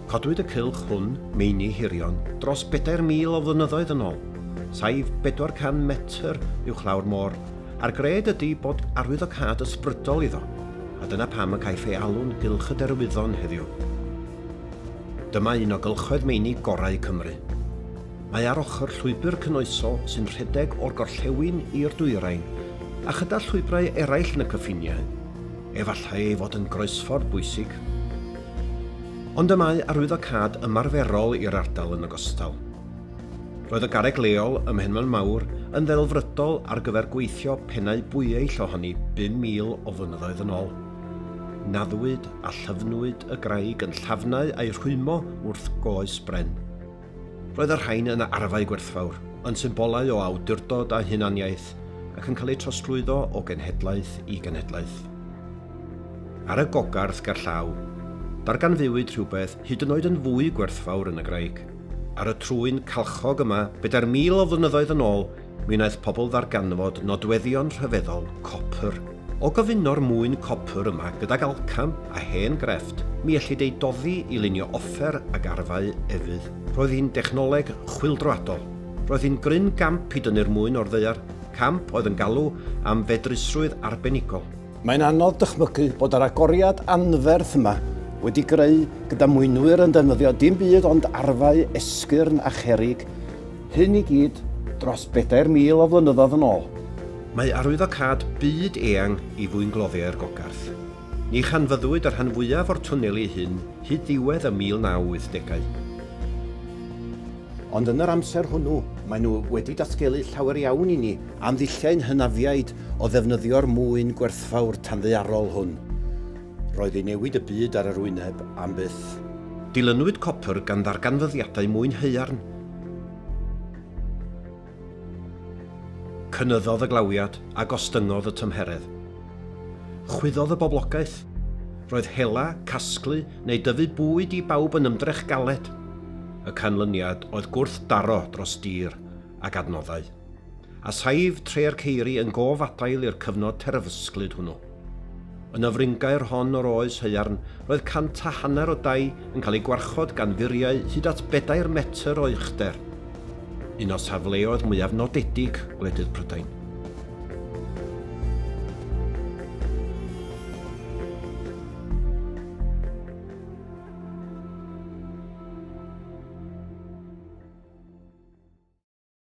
Codwyd y cylch hwn, meini hirion, dros bedair mil o flynyddoedd yn ôl, saif 400 metr uwchlaw'r môr, a'r gred ydy bod arwyddocâd ysbrydol iddo, a dyna pam y caiff ei alw'n Gylch y Derwyddon heddiw. Dyma un o gylchoedd meini gorau Cymru. Mae ar ochr llwybr cynoesol sy'n rhedeg o'r gorllewin i'r dwyrain, a chyda llwybrau eraill yn y cyffiniau. efallai ei fod yn groesffordd bwysig. Ond y mae arwyddocâd ymarferol i'r ardal yn ogystal. Roedd y garreg leol ym Mhenmaen Mawr yn ddelfrydol ar gyfer gweithio pennau bwyeill ohoni 5,000 o flynyddoedd yn ôl. Naddwyd a llyfnwyd y graig yn llafnau a'i rhwymo wrth goes bren. Roedd y rhain yn arfau gwerthfawr, yn symbolau o awdurdod a hunaniaeth ac yn cael eu trosglwyddo o genhedlaeth i genhedlaeth. Ar y gogarth gerllaw, darganfuwyd rhywbeth hyd yn oed yn fwy gwerthfawr yn y graig. Ar y trwyn calchog yma, bedair mil o flynyddoedd yn ôl, Mi wnaeth pobl ddarganfod nodweddion rhyfeddol copr. O gyfuno'r mwyn copr yma gydag alcam a hen grefft, mi ellid ei doddi i lunio offer ag arfau efydd. Roedd hi'n dechnoleg chwyldroadol. Roedd hi'n gryn gamp i dynnu'r mwyn o'r ddaear, camp oedd yn galw am fedrusrwydd arbenigol. Mae'n anodd dychmygu bod yr agoriad anferth yma wedi greu gyda mwynwyr yn defnyddio dim byd ond arfau esgyrn a cherrig, Hyn i gyd, dros bedair mil o flynyddoedd yn ôl. Mae arwyddocâd byd eang i fwyngloddiau'r Gogarth. Ni chanfyddwyd y rhan fwyaf o'r twneli hyn hyd ddiwedd y 1980au. Ond yn yr amser hwnnw, maen nhw wedi datgelu llawer iawn i ni am ddulliau'n hynafiaid o ddefnyddio'r mwyn gwerthfawr tanddaearol hwn. Roedd ei newid y byd ar yr wyneb am byth. Dilynwyd copr gan ddarganfyddiadau mwyn haearn. Cynyddodd y glawiad a gostyngodd y tymheredd. Chwyddodd y boblogaeth. Roedd hela, casglu neu dyfu bwyd i bawb yn ymdrech galed. Y canlyniad oedd gwrthdaro dros dir ag adnoddau. a saif tre'r ceiri yn gof adael i'r cyfnod terfysglyd hwnnw. Yn y fringaer hon o'r oes haearn, roedd cant a hanner o dai yn cael eu gwarchod gan furiau hyd at bedair metr o uchder, un o safleoedd mwyaf nodedig gwledydd Prydain.